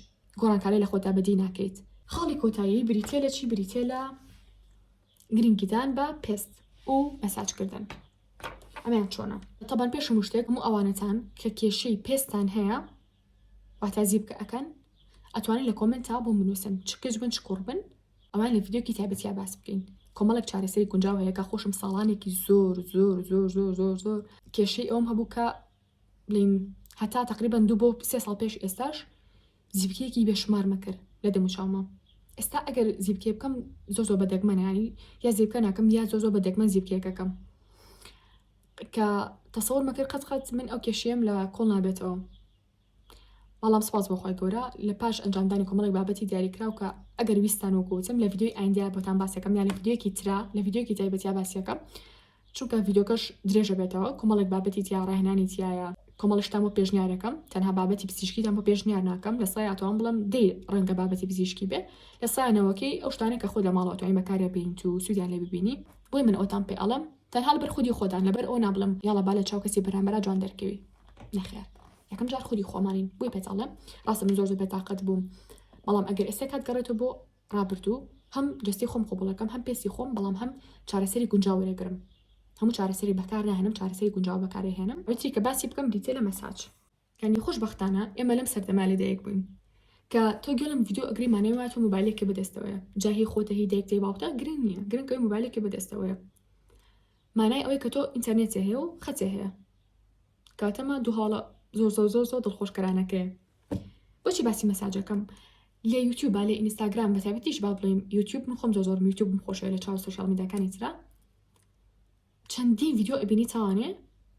گۆڕانکاری لە خۆتا بەدی ناکەیت. خاڵی کۆتایی بریتیە لە چی بریتیە لە گرنگیدان بە پێست و مەساج کردن ئەمەیان چۆنە تەبان پێش هەموو شتێک هەموو ئەوانەتان کە کێشەی پێستان هەیە واتا زیپکە ئەکەن ئەتوانن لە کۆمنتا بۆم بنووسن چ کچ بن چ کوڕ بن ئەوان لە ڤیدیۆکی تایبەتیا باس بکەین کۆمەڵێک چارەسەری گونجاو هەیە کە خۆشم ساڵانێکی زۆر زۆر زۆر زۆر زۆر زۆر کێشەی ئەوم هەبوو کە بڵین هەتا تقریبان دوو بۆ سێ ساڵ پێش ئێستاش زیبکەیەکی بێشمار مەکرد لە دەموچاومە ئێستا ئەگەر زیبکێ بکەم زۆ زۆ بە دەگمەنانی یا زیبکە ناکەم یا زۆ زۆ بە دەگمەن زیبکێکەکەم کە تەسەور مەکرد قەت قەت من ئەو کێشەیەم لە کۆڵ نابێتەوە بەڵام سپاس بۆخوای گەورە لە پاش ئەنجامدانی کۆمەڵی بابەتی دیاریکراو کە ئەگەر ویستان وەکوتم لە یددیوی ئایندیا بۆتان باسەکەم یا لە یددیوەکی ترا لە یددیوکی تایبەتیا باسیەکەم چونکە یددیوکەش درێژە بێتەوە کۆمەڵێک بابەتی تیا ڕاهێنانی تایە کۆمەڵشتان بۆ پێشنیارەکەم تەنها بابەتی پزیشکیتان بۆ پێشنیار ناکەم لە سایاتوان بڵم دەی ڕەنگە بابەتی پزیشکی بێ لە سایەنەوەکەی ئەو شتانە کە خۆ لە ماڵەوەتوانی بەکارە بینیت و سوودیان لێ ببینی بۆی من ئەوتان پێ ئەڵم تەنها لەبەر خودی خۆتان لەبەر ئەوە نابڵێم یاڵا با لە چاو کەسی بەرامبەرا جوان دەرکەوی نەخێر یەکەم جار خودی خۆمانین بۆی پێت ئەڵێم ڕاستە من زۆر زۆر بێتاقەت بووم بەڵام ئەگەر ئێستا کات گەڕێتەوە بۆ ڕابردوو هەم جستی خۆم قوبڵەکەم هەم پێستی خۆم بەڵام هەم چارەسەری گونجاو وەرەگرم هەموو چارەسەری بەکار ناهێنم چارەسەری گونجاو بەکارێهێنم ئەوتری کە باسی بکەم دیتێلە مەساج یانی خۆش بەختانە ئێمە لەم سەردەمە لە دایک بووین کە تۆ گوێ لەم ڤیدیۆ ئەگری مانای وایە تۆ مۆبایلێکی بەدەستەوەیە جا هی خۆتە هی دایک دەی باوکتە گرنگ نییە گرنگ ئەوی مۆبایلێکی بەدەستەوەیە مانای ئەوەی کە تۆ ئینتەرنێتێ هەیە و خەتێ هەیە کاتەمە دوو هاڵە زۆر زۆر زۆر زۆر دڵخۆشکەرانەکەی بۆچی باسی مەساجەکەم لە یوتیوب با لە ئینستاگرام بە تابەتیش با بڵێم یوتیوب من خۆم زۆر زۆر یوتیوب خۆشە لە چاو سوشال میداکانی ترا چەندین ڤیدیۆ ئەبینی تاوانێ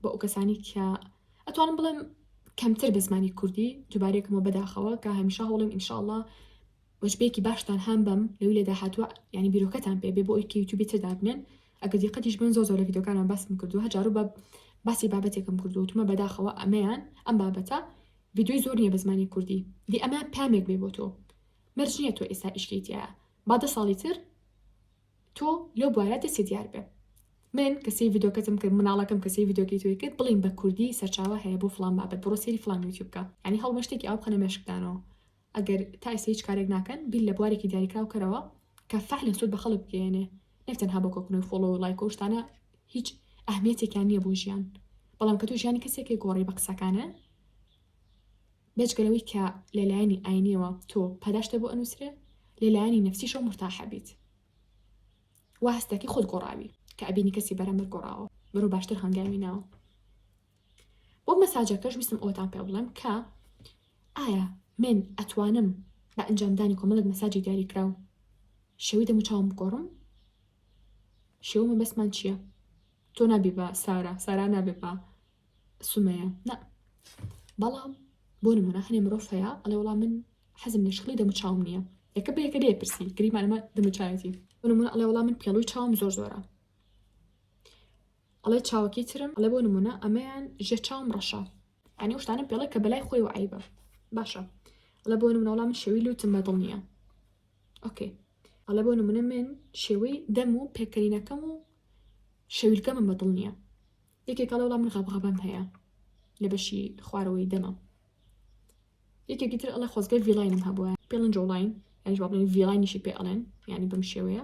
بۆ ئەوکەسانی کە ئەتوانم بڵێم کەمتر بە زمانی کوردی دووبارەیەکمەوە بەداخەوە کە هەمیشە هەوڵیم ئینشاءاللە وەجبەیەکی باشتان هەم بەم لەوی لە داهاتوە ینی بیرۆکەتان پێ بێ بۆ ئەوی کە یوتیوبی تر دابنێن ئەگەر دیقەتیش بن زۆر زۆر لە ڤیدیۆکانمان باسم کردو هەجارو بە باسی بابەتێکم کردو وتمە بەداخەوە ئەمەیان ئەم بابەتە ڤیدیۆی زۆر نییە بە زمانی کوردی دی ئەمە پامێک بێ بۆ تۆ مەرج نییە تۆ ئێستا ئیشکەیتیایە با دە ساڵی تر تۆ لەو بوارە دەستی دیار بێ من کە سەی ڤیدۆکەتم کرد مناڵەکەم کە سەی ڤیدۆکی توی کرد بڵین بە کوردی سەرچاوە هەیە بۆ فلان بابەت بڕۆ سەیری فلان یوتیوب بکە ینی هەڵمە شتێکی ئاو بخەنە مێشکدانەوە ئەگەر تا ئێستا هیچ کارێک ناکەن بیر لە بوارێکی دیاریکراو کەرەوە کە فعلن سوود بە خەڵک بگەێنێ نەک تەنها بۆ کۆکردنەوەی فۆڵۆ و لایک و شتانە هیچ ئەهمیەتێکیان نییە بۆ ژیان بەڵام کە تۆ ژیانی کەسێکی گۆڕی بە قسەکانە بێجگە لەوەی کە لە لایەنی ئاینیەوە تۆ پاداشتە بۆ ئەنوسرێ لە لایەنی نەفسیشەوە مورتاح ئەبیت وا هەست دەکەی خۆت گۆڕاوی کە ئەبینی کەسی بەرامبەر گۆڕاوە بەرەو باشتر هەنگاوی ناوە بۆ مەساجەکەش ویستم ئەوەتان پێ بڵێم کە ئایا من ئەتوانم بە ئەنجامدانی کۆمەڵک مەساجی دیاری کراو شێوی دەمو چاوم بگۆڕم شێومە بەسمان چییە تۆ نابی بە سارا سارا نابێ بە سومەیە، نا، بەڵام بۆ نموونە هەنێ مرۆڤ هەیە ئەڵێ وەڵام من حەزم لە شکڵی دەموچاوم نییە یەکە بە یەکە لێ پرسی گریمانمە دەموچاوێتی بۆ نموونە ئەڵێ وەڵام من پێڵوی چاوم زۆر زۆرە ئەڵێ چاوەکی ترم ئەڵێ بۆ نموونە ئەمەیان ژێ چاوم ڕەشە ئەنی شتانە پێڵێک کە بەلای خۆی و عیبە باشە ئەڵێ بۆ نمونە وەڵام من شێوی لوتم بەدڵ نییە ئۆکەی ئەڵێ بۆ نمونە من شێوەی دەم و پێکەرینەکەم و شەویلکەمە بەدڵ نییە یەکێک ئەڵێ وەڵا من غەبغەبەم هەیە لە بەشی خوارەوەی دەمم یەکێکی تر ئەڵێ خۆزگە ڤیلاینم هەبووە پێڵن جۆڵین یانیش با بڵێن ڤیلاینیشی پێ ئەڵێن یعنی بەم شێوەیە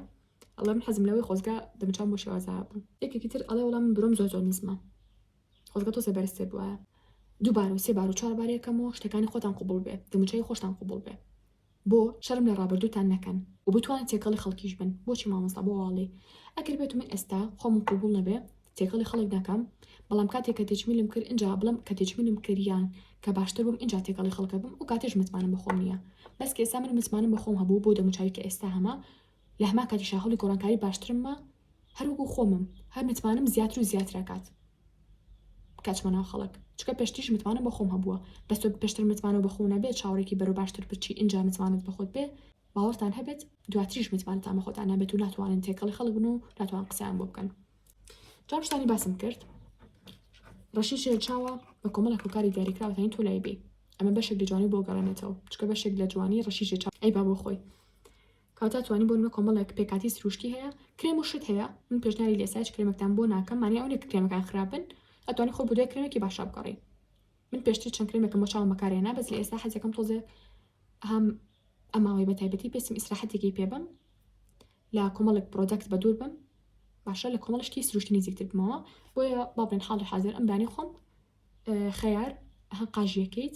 ئەڵێ من حەزم لەوەی خۆزگە دەمچام بۆ شێوازا بوو یەکێکی تر ئەڵێ وەڵا من برۆم زۆر زۆر نزمە خۆزگە تۆزێ بەرزتر بووە دووبار و سێ بار و چوار بارەکەمەوە شتەکانی خۆتان قوبڵ بێت دەموچەی خۆشتان قوبڵ بێت بۆ شەرم لە ڕابردووتان نەکەن و بتوانن تێکەڵی خەڵکیش بن بۆچی مامۆستا بۆ وا ئەڵێی ئەگەر بێتو من ئێستا خۆمم قبوڵ نەبێ تێکەڵی خەڵک نەکەم بەڵام کاتێ کە تێچمیلم کرد ئینجا بڵێم کە تێچمیلم کرد یان کە باشتر بووم ئینجا تێکەڵی خەڵک ئەبم ئەو کاتەش متمانەم بە خۆم نییە بەس کە ئێستا من متمانەم بە خۆم هەبوو بۆ دەموچاوی کە ئێستا هەمە لە هەمان کاتیشا هەوڵی گۆڕانکاری باشترممە هەر وەکو خۆمم هەر متمانەم زیاتر و زیاتر ئەکات کەچمە ناو خەڵک چکە پێشتریش متمانەم بە خۆم هەبووە بەس تۆ پێشتر متمانەوە بە خۆ نەبێت چاوەڕێکی بەرەو باشتر بچی ئینجا متمانەت بە خۆت بێ باوەڕتان هەبێت دواتریش متمانەتان بە خۆتان نەبێت و ناتوانن تێکەڵی خەڵک بن و ناتوان قسەیان بۆ بکەن جا شتانی باسم کرد ڕەشی شێرچاوە بە کۆمەڵە کۆکاری دیاریکراوەتانی تۆ لای بێ ئەمە بەشێک لە جوانی بۆ گەڕێنێتەوە چکە بەشێک لە جوانی ڕەشی شێرچاو ئەی با بۆ خۆی کەواتە توانی بۆ نمە کۆمەڵێک پێکاتی سروشتی هەیە کرێم و شت هەیە من پێشنیاری لێسا هیچ کرێمێکتان بۆ ناکەم مانای ئەوە نیە کە کرێمەکان خراپن ئەتوانی خۆت بە دوای کرێمێکی باشا بگەڕێی من پێشتر چەند کرێمێکم بۆ چاوم بەکارهێنا بەس لە ئێستا حەزەکەم تۆزێ هەم ئەماوەی بە تایبەتی پێستم ئیسراحەتێکی پێ بم لە کۆمەڵێک پرۆدەکت بە دوور بم باشە لە کۆمەڵ شتی سروشتی نزیکتر بمەوە بۆیە با بڵێن حاڵی حاضر ئەم دانی خۆم خەیار هەقاژیەکەیت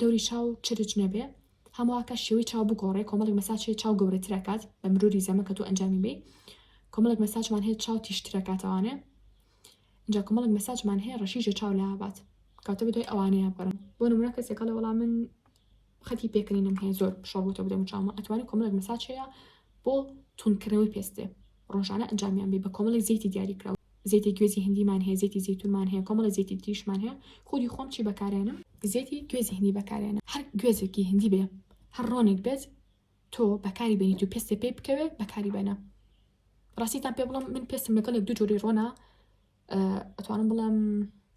دەوری چاو چرچ نەبێ هەموواکە شێوەی چاو بگۆڕێ کۆمەڵێک مەساج هەیە چاو گەورەترەکات بە مروری زەمە کە تۆ ئەنجامی بی کۆمەڵێک مەساجمان هەیە چاو تیشترەکاتەوانێ جا کۆمەڵێک مەساجمان هەیە ڕەشیژە چاو لابات کاتە بدوای ئەوانەیە بگەڕم بۆ نمونە کەسێکە لە وەڵام من خەتی پێکەنینم هەیە زۆر شەڕوتە بدەم چاومە ئەتوانی کۆمەڵێک مەساج هەیە بۆ تونکردنەوەی پێستێ ڕۆژانە ئەنجامیان بی بە کۆمەڵێ زەیتی دیاری کراو زەیتی گوێزی هندیمان هەیە زەیتی زەیتونمان هەیە کۆمەڵێ زەیتی تریشمان هەیە خودی خۆم چی بەکارێنم زەیتی گوێزی هندی بەکارێنم هەر گوێزێکی هندی بێ هەر ڕۆنێک بێت تۆ بەکاری بێنیت و پێستت پێی بکەوێ بەکاری بەنە ڕاستیتان پێ بڵم من پێستم لەگەڵ یەک دوو جۆری ڕۆنا ئەتوانم بڵێم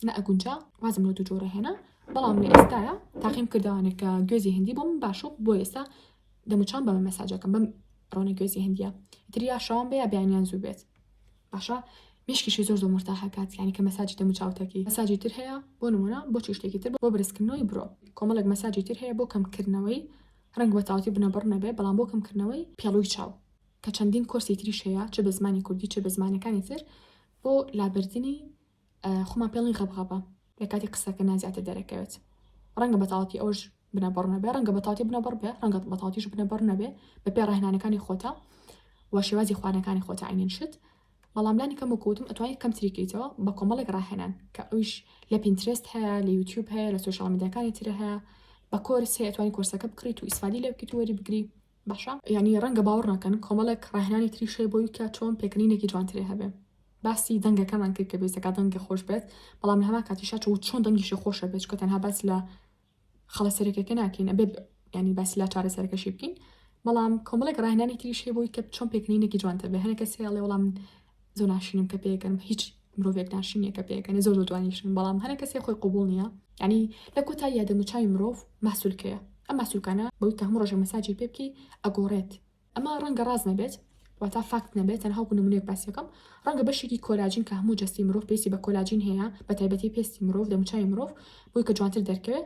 نە ئەگونجا وازم لە دوو جۆرە هێنا بەڵام لە ئێستاە تاقیم کردوانێک کە گوێزی هندی بۆم باشە بۆ ئێستا دەموچان بەمە مەساجەکەم بم ڕۆنە گوێزی هندیە تریا شەوان بەیە بیانیان زوو بێت باشە مشکیشی زۆر زۆر مرتا هەکات یانی کە مەساجی دەمو چاوتەکی مەساجی تر هەیە بۆ نمونە بۆ چشتێکی تر بۆ برسکردنەوەی برۆ کۆمەڵک مەساجی تر هەیە بۆ کەمکردنەوەی ڕنگ بە تاوتی بنەبڕ نەبێ بەڵام بۆ کەمکردنەوەی پێڵوی چاو کە چەندین کۆرسی تریش هەیە چ بە زمانی کوردی چ بە زمانەکانی تر بۆ لابردنی خۆمان پێڵین غەبغەبە لە کاتی قسەکردنا زیاتر دەرەکەوێت ڕەنگە بەتاڵەتی ئەوش بنەبڕ نەبێ ڕەنگە بەتاڵەتی بنەبڕ بێ ڕەنگە بەتاڵەتیش بنەبڕ نەبێ بە پێ ڕاهێنانەکانی خۆتە و شێوازی خوانەکانی خۆتە عینین شت بەڵام لانی کەم وکوتم ئەتوانی کەم تریکەیتەوە بە کۆمەڵێک ڕاهێنان کە ئەویش لە پینترست هەیە لە یوتیوب هەیە لە سوشال میدیاکانی ترە هەیە بە کۆرس هەیە توانی کۆرسەکە بکڕیت و ئیسفادی لێ بکەیت و وەری بگری باشە یانی ڕەنگە باوەڕ نەکەن کۆمەڵێک ڕاهێنانی تریش هەیە بۆی کە چۆن پێکەنینێکی جوانترێ هەبێ باسی دەنگەکەمان کرد کە بێزەکە دەنگە خۆش بێت بەڵام لە هەما کاتیشا چ چۆن دەنگیشی خۆشە بێت کە تەنها باس لە خەڵە سەرەکەکە ناکەین ئەبێ ینی باس لا چارە سەرەکەشی بکەین بەڵام کۆمەڵێک ڕاهێنانی تریش هەیە بۆی کە چۆن پێکەنینێکی جوانتر بێ هەنێکە سێڵێ وەڵام زۆر ناشرینم کە پێگەنم هیچ مرۆڤێک ناشرینە کە پێگەنێ زۆر زۆر جوانیشن بەڵام هەنە کەسێ خۆی قوبول نییە ینی لە کۆتا یادە موچاوی مرۆڤ ماسوولکەیە ئەم ماسوولکانە بەوی کە هەموو ڕۆژە مەساجی پێ بکەی ئەگۆڕێت ئەمە ڕەنگە ڕاز نەبێت واتا فاکت نەبێت تەنها وەکو نمونەیەک باسیەکەم ڕەنگە بەشێکی کۆلاجین کە هەموو جەستی مرۆڤ پێستی بە کۆلاجین هەیە بە تایبەتی پێستی مرۆڤ دەموچوی مرۆڤ بۆی کە جوانتر دەرکەوێت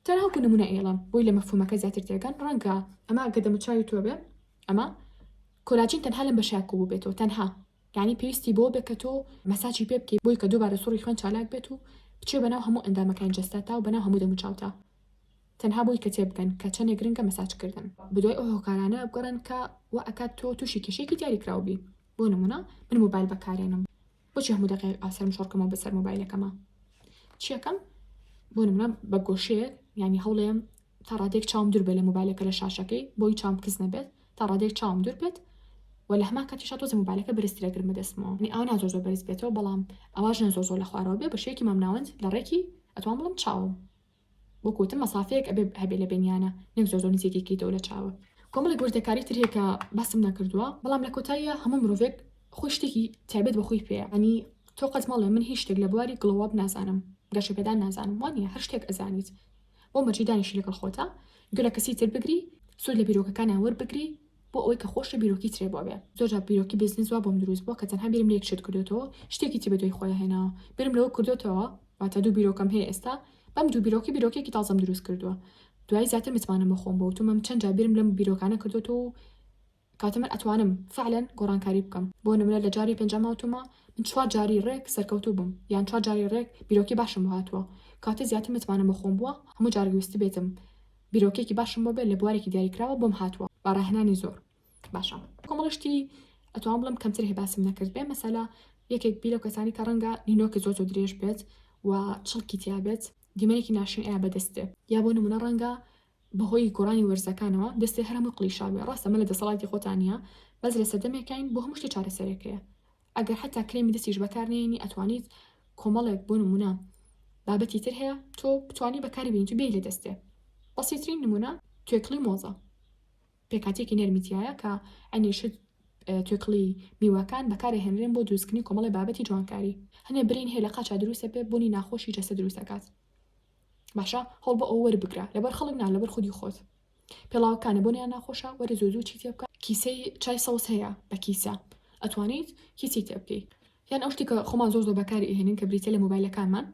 تاوەکو نمونە ئێڵە بۆی لە مەفهومەکە زیاتر تێگەن ڕەنگە ئەمە گە دەموچاوی تۆ بێ ئەمە کۆلاجین تەنها لەم بەشە کوو بێتەوە تەنها یعنی پێویستی بۆ بێ کە تۆ مەساچی پێ بکەی بۆی کە دووبارە سوڕی خوێن چالاک بێت و بچێ بەناو هەموو ئەندامەکانی جەستە تا و بەناو هەموو دەموچاوتا تەنها بۆی کە تێبگەن کە چەندێک گرنگە مەساج کردن بدوای ئەو هۆکارانە بگەڕێن کە وا ئەکات تۆ تووشی کێشێکی دیاری کراو بی بۆ نمونە من موبایل بەکارێنم بۆچی هەموو دەقێک ئاسەرم شۆڕکەمەوە بەسەر مۆبایلەکەمە چیەکەم بۆ نمرە بە گۆشەیە ینی هەوڵێم تا ڕادێک چاوم دوور بێ لە مۆبایلەکە لە شاشەکەی بۆی چام کس نەبێت تا ڕادێک چاوم دوور بێت و لە هەما کاتیشا تۆزە مۆبایلەکە برسترە گرمە دەستمەوە نی ئەو نازۆ زۆ بەرز بێتەوە بەڵام ئەواش نەزۆ زۆ لە خوارەوە بێ بە شێکی مامناوەند لە ڕێکی ئەتوان بڵم چاوم وەکو وتم مەسافەیەک ئەبێ هەبێ لە بینیانە نەک زۆر زۆر نزیکی کەیتەوە لە چاوە کۆمەڵێک وردەکاری تر هەیە کە باسم نەکردووە بەڵام لە کۆتاییە هەموو مرۆڤێک خۆی شتێکی تایبەت بە خۆی پێیە ئەنی تۆ قەت مەڵێ من هیچ شتێک لە بواری گڵۆواب نازانم گەشە پێدان نازانم وانە هەر شتێک ئەزانیت بۆ مەرجی دانیشی لەگەڵ خۆتە گوێ لە کەسی تر بگری سوود لە بیرۆکەکانیان وەربگری بۆ ئەوەی کە خۆشی بیرۆکی ترێ بۆ بێ زۆر جار بیرۆکی بیزنس وا بۆم دروست بوە کە تەنها بیرم لە یەک شت کردۆتەوە شتێکی تر بە دوای خۆیا هێناوە بیرم لەوە کردۆتەوە واتە دوو بیرۆکەم هەیە ئێستا بەم دوو بیرۆکی بیرۆکێکی تازەم دروست کردووە دوای زیاتر متمانەم بە خۆم بۆ وتومەم چەند جار بیرم لەم بیرۆکانە کردۆتەوە و کاتە من ئەتوانم فعلا گۆڕانکاری بکەم بۆ نمونە لە جاری پێنجەما وتومە من چوار جاری ڕێک سەرکەوتوو بم یان چوار جاری ڕێک بیرۆکی باشم بۆ هاتووە کاتە زیاتر متمانەم بە خۆم بووە هەموو جارێک ویستبێتم بیرۆکەیەکی باشم بۆ بێت لە بوارێکی دیاریکراوە بۆم هاتووە بە ڕاهێنانی زۆر باشە کۆمەڵی شتی ئەتوان بڵم کەمتر هەیە باسم نەکرد بێ مەسەلا یەکێک بی لەو کەسانی کە ڕەنگە نینۆکی زۆر زۆر درێژ بێت و چڵکی تیا بێت دیمەنێکی ناشرین ئایا بەدەست بێ یا بۆ نمونە ڕەنگە بەهۆی گۆڕانی وەرزەکانەوە دەستی هەرمووی قلیشاوێ ڕاستە مە لە دەسەڵاتی خۆتان نیە بەس لە سەردەمێکین بۆ هەموو شتێ چارەسەرێکەیە ئەگەر حەتا کرێمی دەستیش بەکار نەیەنی ئەتوانیت کۆمەڵێک بۆ نمونە بابەتی تر هەیە تۆ بتانی بەکاری بینیت و بێی لە دەستێ بەسیترین نمونە توێکڵی مۆزە پێکاتێکی نەرمیتیایە کە ئەنیشت توێکڵی میوەکان بەکارە هێنرێن بۆ دروستکردنی کۆمەڵی بابەتی جوانکاری هەنێ برین هەیە لە قاچا دروستە بێ بوونی ناخۆشی جەستە دروستەکات باشە هەڵ بە ئەو وەربگرە لەبەر خەڵک نا لەبەر خودی خۆت پێڵاوە کانە بۆنیان ناخۆشە وەرە زوو زوو چی تێ بکە کیسەی چای سەوز هەیە بە کیسە ئەتوانیت کیسی تێ بکەی یان ئەو شتێکە خۆمان زۆر زۆر بەکاری ئەهێنین کە بریتە لە مۆبایلەکانمان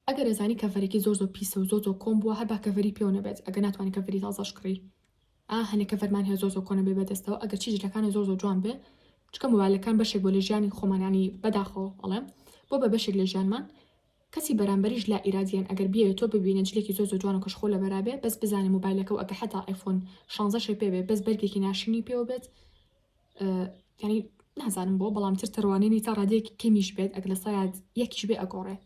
ئەگەر ئەزانی کەڤەرێکی زۆر زۆر پیسە و زۆر زۆر کۆم بووە هەر با کەڤەری پێوە نەبێت ئەگەر ناتوانانی کەڤەری تازەش کڕی ئا هەنێ کەڤەرمان هەیە زۆر زۆر کۆنە بێ بەدەستەوە ئەگەر چی جلەکانە زۆر زۆر جوان بێ چکە مۆبایلەکان بەشێک بۆ لە ژیانی خۆمانانی بەداخەوە ئەڵێم بۆ بە بەشێک لە ژیانمان کەسی بەرامبەریش لا ئیرادیەن ئەگەر بیەوێ تۆ ببینێ جلێکی زۆر زۆر جوان و کەشخۆ لەبەرا بێ بەس بزانێ موبایلەکەو ئەگە حەتا ئایفۆن شانزە شێ پێ بێ بەس بەرگێکی ناشرینی پێوە بێت یانی نازانم بۆ بەڵام تر تڕوانینی تا ڕادەیەکی کەمیش بێت ئەگە لە سەیاد یەکیش بێ ئەگۆڕێ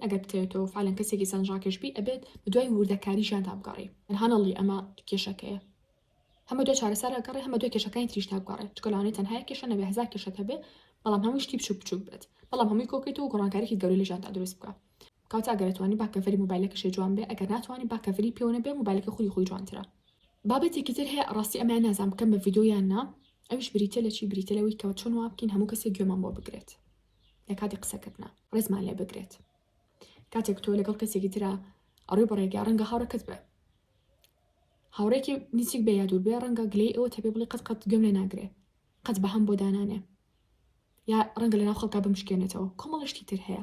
ئەگەر بتەوێت تۆ فعلەن کەسێکی سەنجڕاکێش بی ئەبێت بە دوای وردەکاری ژیانتا بگەڕی هەنەڵی ئەمە کێشەکەیە هەم بەدوای چارەسەر ئەگەڕێ هەم بەدوای کێشەکانی تریشدا بگەڕێ چونکە لەوانەیە تەنها یەک کێشە نەبێ هەزار کێشەت هەبێ بەڵام هەمووی شتی بچوک بچوک بێت بەڵام هەمووی کۆکەیتەوە گۆڕانکاریکی گەورەی لە ژیانتا دروست بکا کەواتە ئەگەر ئەتوانی با کەڤەری مۆبایلەکەشێ جوان بێ ئەگەر ناتوانی با کەڤەری پێوە نەبێ مۆبایلەکەی خودی خۆی جوانترە بابەتێکی تر هەیە ڕاستی ئەمەیان نازانم بکەم بە ڤیدیۆ یان نا ئەویش بریتیە لە چی بریتیە لەوەی کە چۆن وا بکەین هەموو کەسێک گوێمان بۆ بگرێت لە کاتی قسەکردنا ڕێزمان لێ بگرێت کاتێک تۆ لەگەڵ کەسێکی ترا ئەڕوی بە ڕێگا ڕەنگە هاوڕەکەت بێ هاوڕێکی نزیک بێ یا دووربێ ڕەنگە گلەی ئەوە تێبێ بڵێ قەت قەت گوێم لێ ناگرێ قەت بەهەم بۆ دانانێ یا ڕەنگە لەناو خەڵکا بمشکێنێتەوە کۆمەڵە شتی تر هەیە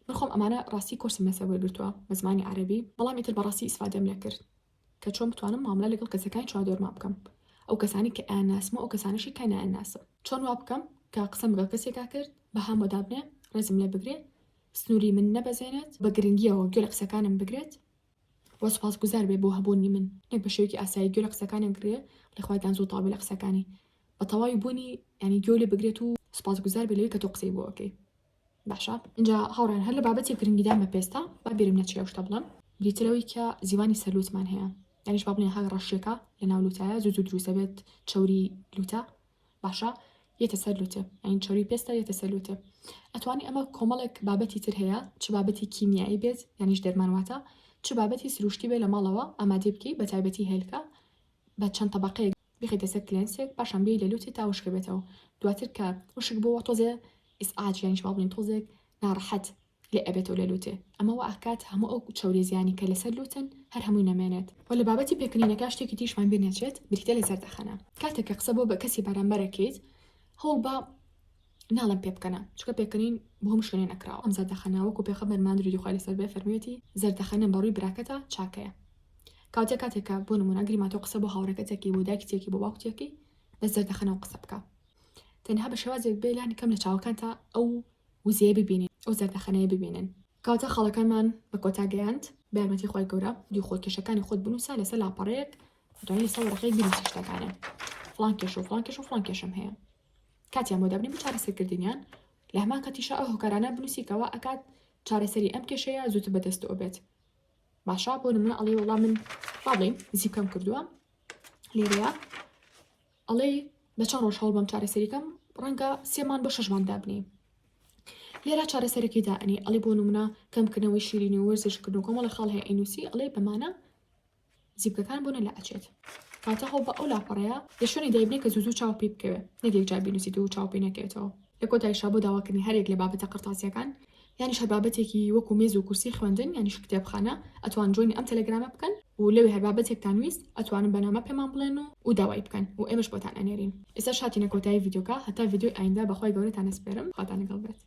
من خۆم ئەمانە ڕاستی کۆرسم لەسەر وەرگرتووە بە زمانی عەربی بەڵام ئیتر بەڕاستی ئیسفادەم لێ کرد کە چۆن بتوانم ماملە لەگەڵ کەسەکانی چواردۆرمان بکەم ئەو کەسانی کە ئەناسمە ئەو کەسانەشی کە ناناسم چۆن وا بکەم کە قسەم بگە کەسێکا کرد بە هامۆدابنێ ڕێزم لێ بگرێ سنووری من نەبەزێنێت بە گرنگیەوە گوێ لە قسەکانم بگرێت و سوپاس گوزار بێ بۆ هەبوونی من نەک بە شێوەیەکی ئاسایی گوێ لە قسەکانی بگرێ ڵێ خوای گان زوو تەواو بێ لە قسەکانی بە تەواوی بوونی یانی گوێو لێ بگرێت و سوپاس گوزار بێ لەوەی کە تۆ قسەی بۆ ئەکەی باشە ئینجا هاوڕێیان هەر لە بابەتێک گرنگیدان بە پێستە با بیرم نەچێ ئەو شتە بڵێم دیتر ئەوەی کە زیوانی سەر لووتمان هەیە یانیش با بڵێین هەر ڕەشێکە لە ناو لووتایە زوو زوو دروست دەبێت چەوری لووتە باشە یەتە سەر لوتێ ئەین چۆری پێستا یەتە سەر لوتێ ئەتوانی ئەمە کۆمەڵێک بابەتی تر هەیە چ بابەتی کیمیایی بێت یانیش دەرمانواتە چ بابەتی سروشتی بێ لە ماڵەوە ئامادەی بکەی بە تایبەتی هێلکە بە چەند تەبقەیەک بخیتە سەر کلێنسێک پاشان بێ لە لوتی تا وشکە بێتەوە دواتر کە وشک بۆەوە تۆزێ ئیسعاج یانیش باڵین تۆزێک ناڕەحەت لێ ئەبێتەوە لە لوتێ ئەمە وا ئەکات هەموو ئەو چەورێ زیانی کە لەسەر لوتن هەر هەمووی نەمێنێت. وە لە بابەتی پێکەنینەکە شتێکی تریشمان بیر نەچێت بریتە لە زەردەخەنە کاتێک کە قسە بۆ بە کەسی بەرامبەر ئەکەیت هەوڵ بە ناڵێم پێ بکەنە چونکە پێکەنین بۆ هەموو شوێنێ نەکراوە ئەم زەردەخەنە وەکو پێخەمبەرمان درودی خوای لەسەر بێ فەرموویەتی زەردەخەنە بە ڕووی براکەتە چاکەیە کەواتە کاتێک کە بۆ نمونە گریمان تۆ قسە بۆ هاوڕێکەت ئەکەی بۆ دایکتێکی بۆ باوکتێکی بە زەردەخەنەوە قسە بکە تەنها بە شێوازێک بێ لانی کەم لە چاوەکانتا ئەو وزەیە ببینین ئەو زەردەخەنەیە ببینن. کاتە خاڵەکانمان بە کۆتا گەیاند بە یارمەتی خوای گەورە ڤیدیۆ خۆت کێشەکانی خۆت بنووسە لەسەر لاپەڕەیەک دوایی لەسەر وەرەقەیەک بنووسە شتەکانیان فڵان کێشە و فڵان کێشە و فڵان کێشەم هەیە کاتیان بۆ دابنی بۆ چارەسەرکردنیان لە هەمان کاتیشا ئەو هۆکارانە بنووسی کەوا ئەکات چارەسەری ئەم کێشەیە زووتر بەدەستەوە بێت باشە بۆ نمونە ئەڵێ وەڵام من بابڵین زیپکەم کردووە لێرەیە ئەڵێی بە چەن ڕۆژ هەوڵبەم چارەسەریکەم ڕەنگە سێ مانگ بۆ شەش مانگ دابنی لێرا چارەسەرەکەی دا ئەنی ئەڵی بۆ نمونە کەمکردنەوەی شیرینی و وەرزشکردن و کۆمەڵە خاڵ هەیە ئەینوسی ئەڵێ بەمانە زیبکەکان بۆ نەلا ئەچێت کاتە هەوڵ بە ئەو لاپەڕەیە لە شوێنی دایبنێ کە زوو زوو چاو پێی بکەوێ نەک یەکجار بینوسیت و چاو پێی نەکەوێتەوە لە کۆتایشا بۆ داواکردنی هەریەک لە بابەتە قەرتاسیەکان یانیش هەر بابەتێکی وەکو مێز و کورسی خوێندن یانیش کتێبخانە ئەتوان جۆینی ئەم تەلەگرامە بکەن و لەوێ هەر بابەتێکتان ویست ئەتوانن بە نامە پێمان بڵێن و و داوای بکەن و ئێمەش بۆتان ئەنێرین. ئێستاش هاتینە کۆتایی ڤیدیۆکە هەتا ڤیدیۆی ئایندە بەخوای گەورەتان ئەسپێرم خواتان لەگەڵ بێت.